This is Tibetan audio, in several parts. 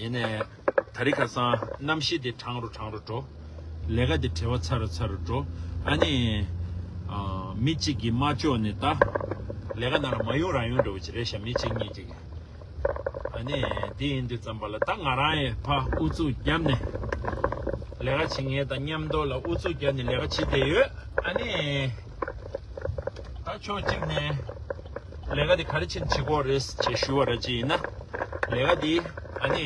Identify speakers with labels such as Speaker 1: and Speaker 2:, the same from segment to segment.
Speaker 1: ཡེ་ནས་ད་རི་ཁ་སང་རྣམ་ཤེས་དེ་དྲང་རུ་དྲང་རུ་འགྲོ། ལས་ཀ་དེ་བྲེལ་བ་ཚ་རུ་ཚ་རུ་འགྲོ། ཨ་ནི། མི་གཅིག་གིས་མ་ལྕོགས་ནི་ད། ལས་ཀ་ནང་ལ་མ་ཡོང་རང་ཡོང་འགྲོ་བ་ཅི་རེད་ཤ་མི་གཅིག་གཉིས་གཅིག་གིས། ཨ་ནི། དེ་ཡིན་དུས་ཙམ་པ་ལ་ད་ང་རང་ཡི་ཕ་ཨུ་ཚུགས་བརྒྱབ་ནས། ལས་ཀ་བྱེད་ངེས་དང་མཉམ་འདོགས་ལ་ཨུ་ཚུགས་བརྒྱབ་ནས་ལས་ཀ་བྱེད་བསྡད་ཡོད། ཨ་ནི། ད་ཕྱོགས་གཅིག་ནས་ལས་ཀ་དེ་ག་རེ་ཕྱིར་འབྱེད་དགོས་རེད་ཅེས་ཞུ་བ་ར་ཅི་ཡིན་ན་ལས་ཀ་དེ་ཨ་ནི་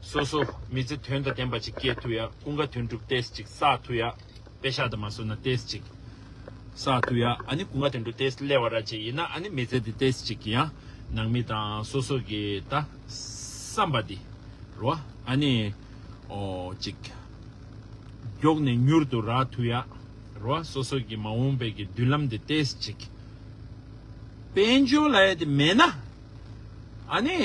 Speaker 1: སོ་སོ་མི་ཚེ་དོན་དང་ལྡན་པ་ཅིག་སྐྱེལ་ཐུབ་ཡ་ཀུན་དགའ་དོན་གྲུབ་ཏེས་ཅིག་བསགས་ཐུབ་ཡ་དཔེ་ཤག་དང་མ་སོ་ན་ཏེས་ཅིག་བསགས་ཐུབ་ཡ་ཨ་ནི་ཀུན་དགའ་དོན་གྲུབ་ཏེས་སླེ་བ་ར་ཅི་ཡིན་ན་ཨ་ནི་མི་ཚེ་དེ་ཏེས་ཅིག་གི་ཡང་ནང་མི་དང་སོ་སོ་གི་ད་བསམ་པ་དེ་རོ་ཨ་ནི་ཨོ་ཅིག་མགྱོགས་ནས་མྱུར་དུ་རག་ཐུབ་ཡ། རུ་བ་སོ་སོ་ཀྱི་མ་འོངས་པའི་ཀྱི་མདུན་ལམ་དེ་བལྟས་ཅིག། དཔལ་འབྱོར་ལ་ཡ་དེ་མེད་ན། ཨ་ནི།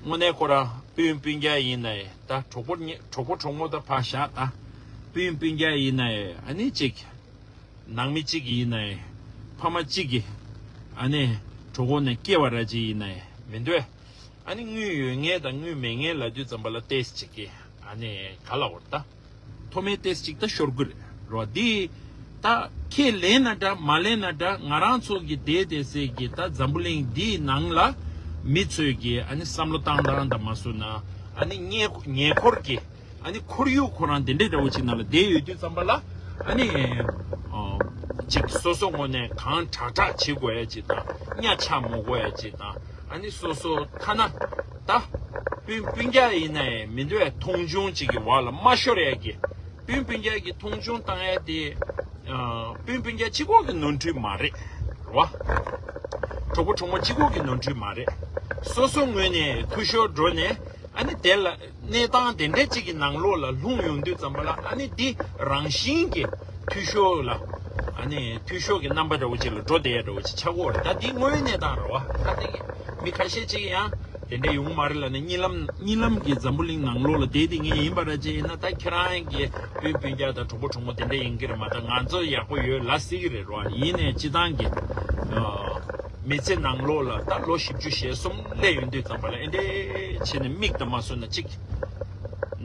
Speaker 1: དངོས་གནས་ཁོ་རང་སྤུན་སྤུན་རྒྱ་ཡིན་ན་ཡི་ད་གྲོགས་པོ་གྲོགས་པོ་གྲོགས་མོ་ད་ཕ་ཞག་ད་སྤུན་སྤུན་རྒྱ་ཡིན་ན་ཡི་ཨ་ནི་ཅིག། ནང་མི་གཅིག་ཡིན་ན་ཡི་ཕ་མ་གཅིག་གི་ཨ་ནི་གྲོགས་པོ་ནས་སྐྱེ་བ་ར་གཅིག་ཡིན་ན་ཡི་མི་འདོད། ཨ་ནི་དངུལ་ཡོད་ངེས་ད་དངུལ་མེད་ངེས་ལ་དུས་ཙམ་པ་ལ་བལྟས་ཅིག་གི་ཨ་ནི་ག་ལ་འོར་ད། མཐོ་དམན་ཏེས་ཅིག་ད་ཤོར་དགོས་རོགས་འདི། ད་ཁྱེད་ལེན་ན་འདྲ་མ་ལེན་ན་འདྲ་ང་རང་ཚོ་གི་དེ་དེ་ཟེར་གི་ད་འཛམ་བུ་གླིང་འདིའི་ནང་ལ་མི་ཚོས་གི་ཨ་ནི་བསམ་བློ་བཏང་བཏང་ད་མ་བཟོ་ན་ཨ་ནི་ཉེ་འཁོར་གི་ཨ་ནི་ཁོར་ཡུག་ཁོ་རང་དེ་འདྲའི་འདྲ་བོ་ཅིག་ནང་ལ་བསྡད་ཡོད་དུས་བརྩམས་པ་ལ་ཨ་ནི་ཅིག་སོ་སོ་ངོ་ནས་གང་དྲག་དྲག་བྱེད་དགོས་ཡ་ཅིག་དང་གཉའ་ཆག་མོ་དགོས་ཡ་ཅིག་དང་ཨ་ནི་སོ་སོ་ཐ་ན། ད། སྤུན་སྤུན་རྒྱལ་ཡིན་ན་ཡང་མི་འདུག་ཡ་མཐོང་ཆུང་ཅིག་གི་བར་ལ་མ་ཤོར་ཡ་གི། སྤུན་སྤུན་རྒྱལ་གི་མཐོང་ཆུང་བཏང་ཡ་དེ། སྤུན་སྤུན་རྒྱལ་སྤྱི་ཁོག་གི་ནོར་འཁྲུལ་མ་རེད། བ། གྲོགས་པོ་གྲོགས་མོ་སྤྱི་ཁོག་གི་ནོར་འཁྲུལ་མ་རེད། སོ་སོ་ངོས་ནས་ཐུ་ཤོར་འགྲོ་ནས་ཨ་ནི་དེ་ལ། གནས་སྟངས་དེ་འདྲ་ཅིག་གི་ནང་ལོགས་ལ་ལྷུང་ཡོང་དུས་ཙམ་པ་ལ་ཨ་ནི་འདི་རང་བཞིན་གྱི། འཐུས་ཤོར་ལ། འཐུས་ཤོར་གྱི་རྣམ་པ་འདྲ་བོ་ཅིག་ལ་འགྲོ་བསྡད་ཡ་འདྲ་བོ་ཅིག་ཆགས་སྐོར་རེད་ད་འདི་དངོས་གནས་དང་ར་བ་ཁ་གཏད་ཀྱི་མི་ཁ་ཤས་ཅིག་ཡང་དེ་འདྲས་ཡོང་གི་མ་རེད་ལ་ནི་གཉིད་ལམ་གཉིད་ལམ་གྱི་འཛམ་བུ་གླིང་ནང་ལོགས་ལ་དེ་དེ་ངས་ཡིན་པ་ར་ཅིག་ཡིན་ན་ད་ཁྱེད་རང་གི་སྤུན་སྤུན་རྒྱག་དང་གྲོགས་པོ་གྲོགས་མོ་དེ་འདྲས་ཡིན་གྱི་རེད་མ་ད་ང་ཚོ་ཡག་པོ་ཡོད་ལ་སྲིད་ཀྱི་རེད་ར་བ་ཡིན་ནས་སྤྱི་བཏང་གི་མི་ཚེ་ནང་ལོགས་ལ་ད་ལོ་བཞི་བཅུ་ཞེ་གསུམ་སླེ་ཡོད་འདུག་ཙམ་པ་ལ་ཨེ་འདྲས་བྱས་ནས་མིག་དང་མ་སོན་ན་ཅིག།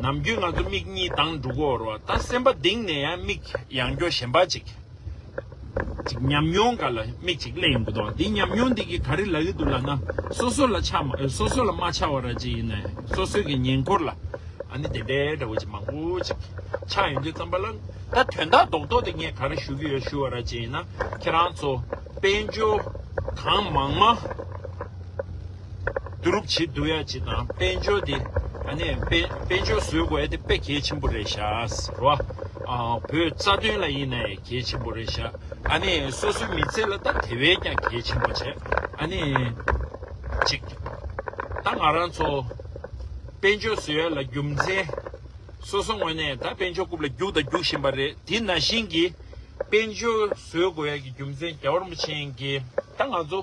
Speaker 1: ནམ་རྒྱུན་ང་ཚོ་མིག་གཉིས་དང་འབྲུག་འོར་བ་ད་སེམས་པ་ལྡིང་ནས་ཡང་མིག་ཡང་སྐྱོ་ཞེན་པ་ཅིག། ཅིག་ཉམས་མྱོང་འགའ་ལ་མིག་ཅིག་གླེགས་ཡོང་གི་འདུག་འདི་ཉམས་མྱོང་འདི་གིས་ག་རེ་ལ་གི་འདུག་ལ་ན་སོ་སོ་ལ་ཆ་མ་སོ་སོ་ལ་མ་ཆ་བ་ར་ཅིག་ཡིན་ནའི་སོ་སོའི་གི་ཉེན་ཁོར་ལ་ཨ་ནི་དེ་འདྲའི་འདྲ་བོ་ཅིག་མང་པོ་ཅིག་ཆགས་ཡོང་གི་བརྩམས་པ་ལ་ད་དོན་དག་རྡོག་རྡོག་དེ་ངས་ག་རེ་ཞུ་གི་ཡོད་ཞུ་བ་ར་ཅིག་ཡིན་ན་ཁྱེད་རང་ཚོ་དཔལ་འབྱོར་གང་མང་མ། བསྡུ་རུབ་བྱེད་བསྡུ་ཡ་བྱེད་དང་དཔལ་འབྱོར་དེ་གནས་དཔལ་འབྱོར་བཟོས་དགོས་ཡ་དེ་དཔེ་གལ་ཆེན་པོ་རེད་ཤགས་རོ་ཨ། བོད་རྩ་དོན་ལ་ཡིན་ན་ཡང་གལ་ཆེན་པོ་རེད་ཤགས་ཨ་ནི་སོ་སོའི་མི་ཚེ་ལ་ད་དེ་བས་ཀྱང་གལ་ཆེན་པོ་བྱས་ཨ་ནི། གཅིག། ད་ང་རང་ཚོ་དཔལ་འབྱོར་བཟོས་ཡ་ལ་རྒྱུ་མཚན། སོ་སོ་ངོས་ནས་ད་དཔལ་འབྱོར་རྐུབ་ལ་རྒྱུག་དང་རྒྱུག་བཞིན་པ་རེད་དེ་ན་བཞིན་གྱི་དཔལ་འབྱོར་བཟོས་དགོས་ཡ་གྱི་རྒྱུ་མཚན་རྒྱ་གར་མོ་ཆེན་གྱི་ད་ང་ཚོ་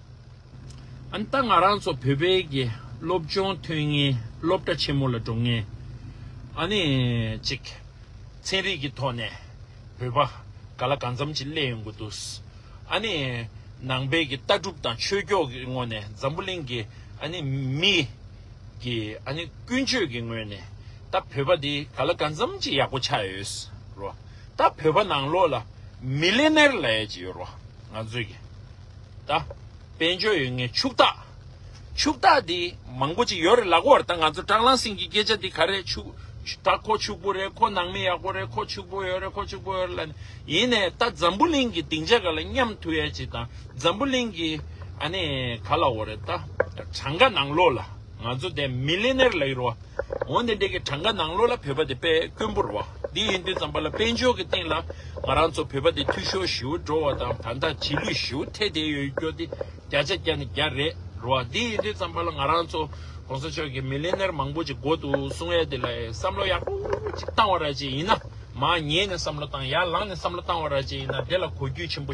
Speaker 1: ཨང་རྟགས་ང་རང་ཚོ་བོད་པའི་གི་སློབ་སྦྱོང་ཐོན་ངེས་སློབ་གྲྭ་ཆེན་མོ་ལ་འགྲོ་ངེས་ཨ་ནི་གཅིག། ཚན་རིག་གི་ཐོག་ནས་བོད་པ་ག་ལ་གང་འཚམ་ཅིག་སླེབས་ཡོང་གི་འདུག་ཨ་ནི་ནང་པའི་གི་ལྟ་གྲུབ་དང་ཆོས་ཕྱོགས་ཀྱི་ངོ་ནས་འཛམ་བུ་གླིང་གི་ཨ་ནི་མི་གི་ཨ་ནི་ཀུན་སྤྱོད་ཀྱི་ངོས་ནས་ད་བོད་པ་འདི་ག་ལ་གང་འཚམ་ཅིག་ཡག་པོ་ཆགས་ཡོད་རོ། ད་བོད་པ་ནང་ལོགས་ལ་མི་ལེ་ནེར་ལ་ཡ་ཅིག་ཡོད་རོ་ང་ཚོའི་གི། ད། དཔལ་འབྱོར་ཡོད་ངེས་ཕྱུག་རྟགས། ཕྱུག་རྟགས་འདི་མང་པོ་ཅིག་ཡོད་རེད་ལགས་འོར་ད་ང་ཚོ་སྐྲག་ལང་སིང་གི་སྐད་ཆ་འདི་ག་རེད་ཕྱུག་རྟགས་ཁོ་ཕྱུག་པོ་རེད་ཁོ་ནང་མི་ཡག་པོ་རེད་ཁོ་ཕྱུག་པོ་ཡོད་རེད་ཁོ་ཕྱུག་པོ་ཡོད་རེད་ལ་ནི་ཡིན་ནས་ད་འཛམ་བུ་གླིང་གི་སྡིངས་ཆ་ག་ལ་མཉམ་དུ་ཡས་ཅིག་དང་འཛམ་བུ་གླིང་གི་ཨ་ནི་ག་ལ་འོ་རེད་ད་གྲངས་ཀ་ནང་ལོགས་ལ་ང་ཚོ་དེ་མི་ལེ་ནེར་ལ་ཡོར་བ། འོན་ཏེ་འདི་གའི་གྲངས་ཀ་ནང་ལོགས་ལ་བོད་པ་དེ་དཔལ་དཀོན་པོར་བ་འདི་ཡིན་དུས་ཙམ་པ་ལ་དཔལ་འབྱོར་གྱི་སྟེང་ལ་ང་རང་ཚོ་བོད་པ་དེ་འཐུས་ཤོར་ཞིའུ་འགྲོ་བ་དང་ད་ལྟ་བྱིས་ལུས་ཞིའུ་ཐེ་ཐེ་ཡོད་སྐྱོ་སྟེ་བརྒྱ་ཆ་བརྒྱ་ནས་བརྒྱ་རེད་རོ་བ་འདི་ཡིན་དུས་ཙམ་པ་ལ་ང་རང་ཚོ་གོང་ས་མཆོག་གི་མི་ལི་ནེར་མང་པོ་ཅིག་འགོ་དུ་སོང་ཡ་དེ་ལ་བསམ་བློ་ཡག་པོ་ཅིག་བཏང་བ་ར་ཅིག་ཡིན་ན་མ་ཉེས་ནས་བསམ་བློ་བཏང་ཡ་ལངས་ནས་བསམ་བློ་བཏང་བ་ར་ཅིག་ཡིན་ན་དེ་ལ་གོ་རྒྱུས་ཆེན་པོ།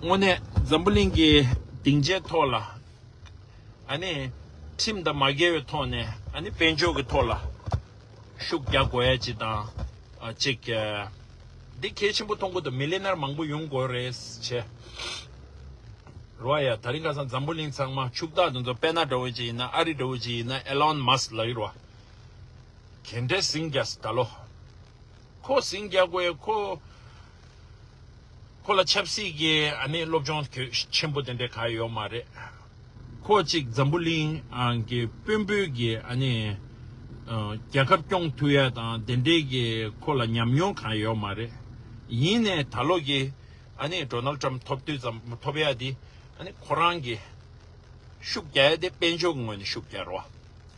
Speaker 1: དངོས་གནས་འཛམ་བུ་གླིང་གི་སྡིངས་ཆའི་ཐོག་ལ། ཁྲིམས་དང་མ་འགལ་བའི་ཐོག་ནས་དཔལ་འབྱོར་གྱི་ཐོག་ལ་ཤུགས་རྒྱག་དགོས་ཡ་ཅིག་དང་གཅིག། འདི་གལ་ཆེན་པོ་མཐོང་གི་འདུག་མི་ལི་ནར་མང་པོ་ཡོང་དགོས་རེད་བྱས། རོ་ཨ་ཡ་ད་རིང་ཁ་སང་འཛམ་བུ་གླིང་ཚང་མ་ཕྱུག་བདག་དེ་ཚོ་དཔལ་ནཱ་འདྲ་བོ་ཅིག་ཡིན་ན་ཨ་རི་འདྲ་བོ་ཅིག་ཡིན་ན་ཨེ་ལོན་མཱ་སི་ལགས་ཡིན་རོ་ཨ། གན་དྲེ་སིང་རྒྱ་སི་ད་ལོ། ཁོ་ཟིང་རྒྱ་གོས་ཁོ། ཁོ་ལ་ཆབ་སྲིད་ཀྱི་ཨ་ནི་སློབ་སྦྱོང་ཆེན་པོ་དེ་འདྲ་ག་ཡོད་མ་རེད། ཁོ་གཅིག་འཛམ་བུ་གླིང་གི་དཔོན་པོའི་གི་ཨ་ནི། རྒྱལ་ཁབ་སྐྱོང་ཐུབ་ཡ་དང་དེ་འདྲའི་གི་ཁོ་ལ་ཉམས་མྱོང་ག་ཡོད་མ་རེད། ཡིན་ནས་ད་ལོ་གི་ཨ་ནི Donald Trump ཐོབ་དུས་ཙམ་ཐོབ་ཡ་དེ་ཨ་ནི་ཁོ་རང་གི། ཤུགས་རྒྱ་ཡ་དེ་དཔལ་འབྱོར་ངོས་ནས་ཤུགས་རྒྱ་རོ།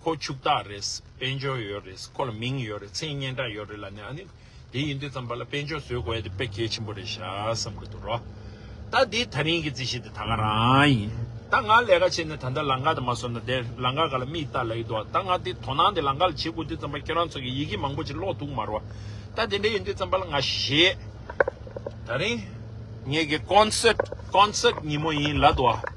Speaker 1: ཁོ་ཕྱུག་བདག་རེད། དཔལ་འབྱོར་ཡོད་རེད། ཁོ་ལ་མིང་ཡོད་རེད། མཚན་སྙན་གྲགས་ཡོད་རེད་ལ་ནི་ཨ་ནི། དེ་ཡིན་དུས་ཙམ་པ་ལ་དཔལ་འབྱོར་བཟོས་དགོས་ཡ་དེ་དཔེ་གལ་ཆེན་པོ་རེད་ཤག་བསམ་གི་འདུག་རོགས། ད་འདི་ད་རིང་གི་རྩིས་གཞི་དེ་ད་ང་རང་ཡིན། ད་ང་ལས་ཀ་བྱས་ནས་ད་ལྟ་ལང་ཀ་དེ་མ་བཟོ་ན་དེར་ལང་ཀ་ག་ལ་མིས་བལྟ་ལ་ཡི་འདུག་ད་ང་འདི་དོ་སྣང་དེ་ལང་ཀ་ལ་བྱེད་དགོས་དུས་ཙམ་པ་ཁྱོད་རང་ཚོ་གི་ཡི་གེ་མང་པོ་ཅིག་ཀློག་ཐུག་མ་རོགས། ད་དེ་འདྲ་ཡིན་དུས་ཙམ་པ་ལ་ང་ཞེད། ད་རིང། ངེད་ཀྱི་ཀོན་སེར། Concert། ཉིན་མོ་ཡིན་ལ་འདུག།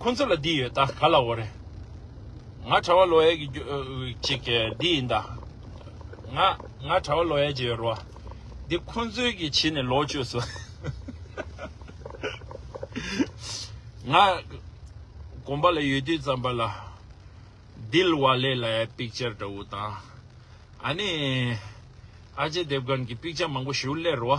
Speaker 1: ཁོ་ཚོ་ལ་འདི་ཡོད་ད་ག་ལ་འོ་རེད། ང་གྲྭ་བ་ལོ་ཡས་ཀྱི་ཅིག་འདི་ཡིན་ད། ང་ང་གྲྭ་བ་ལོ་ཡས་ཀྱི་རོ། འདི་ཁོ་ཚོའི་གི་བྱིས་ནས་ལོག་སྤྱོད་སོ། ང་གོམ་པ་ལ་ཡོད་དུས་ཙམ་པ་ལ། དིལ་བ་ལེ་ལ་ཡའི་པིག་ཅར་འདྲ་བོ་དང། ཨ་ནི། ཨ་ཅེ་དེབ་དགོན་གྱི་པིག་ཅར་མང་པོ་ཞུ་སླེར་རོ།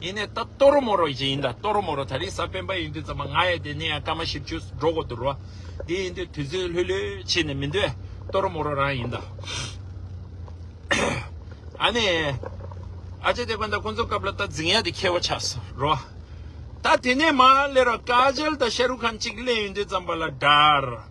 Speaker 1: ཡིན་ནས་ད་ཏོ་རོ་མོ་རོ་ཞིག་ཡིན་ད་ཏོ་རོ་མོ་རོ་ད་རེས་ས་སྤེན་པ་ཡིན་དུས་ཙམ་མ་ང་ཡ་དེ་ནས་ཡང་སྐར་མ་བཞི་བཅུ་འགྲོ་གོ་འདུར་བ་དེ་ཡིན་དུས་དུས་ཚོད་ལྷོད་ལྷོད་ཕྱིན་ནས་མི་འདོད་ཏོ་རོ་མོ་རོ་རང་ཡིན་ད། ཨ་ནེ། ཨ་ཅེ་དེ་ཁོན་ད་ཁོ་ཚོ་སྐབས་ལ་ད་རྫིང་ཡ་དེ་ཁེལ་བ་ཆགས་སོ་རོ། ད་དེ་ནས་མ་ལེ་རོ་ཀ་ཇལ་ད་ཤ་རུ་ཁན་གཅིག་ལེན་ཡིན་དུས་ཙམ་པ་ལ་དར།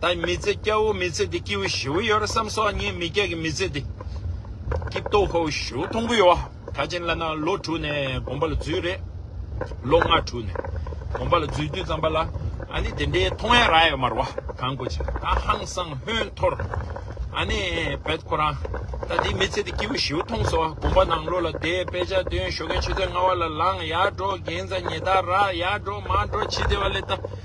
Speaker 1: ད་ཡིན་མི་ཚེ་སྐྱ་བོ་མི་ཚེ་འདི་སྐྱིད་བོ་ཞི་བོ་ཡོད་རེད་བསམ་སོང་ངས་མི་སྐྱ་གི་མི་ཚེ་འདི་སྐྱིད་སྟོབས་ཧོ་ཞི་བོ་མཐོང་གི་ཡོད་ད་བྱིན་བླ་ན་ལོ་དྲུག་ནས་དགོན་པ་ལ་འཛུལ་རེད་ལོ་ལྔ་དྲུག་ནས་དགོན་པ་ལ་འཛུལ་དུས་ཙམ་པ་ལ་ཨ་ནི་དེ་འདྲའི་མཐོང་ཡ་ར་ཡོད་མ་རེད་བ་གང་གོ་ཅི་ད་ཧང་སང་ཧོན་འཐོར་ཨ་ནི་བེད་ཁོ་རང་ད་འདི་མི་ཚེ་འདི་སྐྱིད་བོ་ཞི་བོ་མཐོང་སོང་དགོན་པ་ནང་ལོ་ལ་བསྡད་དཔེ་ཆ་འདོན་ཞོ་གན་ཆུ་ཚོད་ལྔ་བ་ལ་ལངས་ཡར་འགྲོ་རྒན་བཟའ་ཉེ་ད་ར་ཡར་འགྲོ་མར་འགྲོ་ཕྱི་དེ་བ་ལས་ད།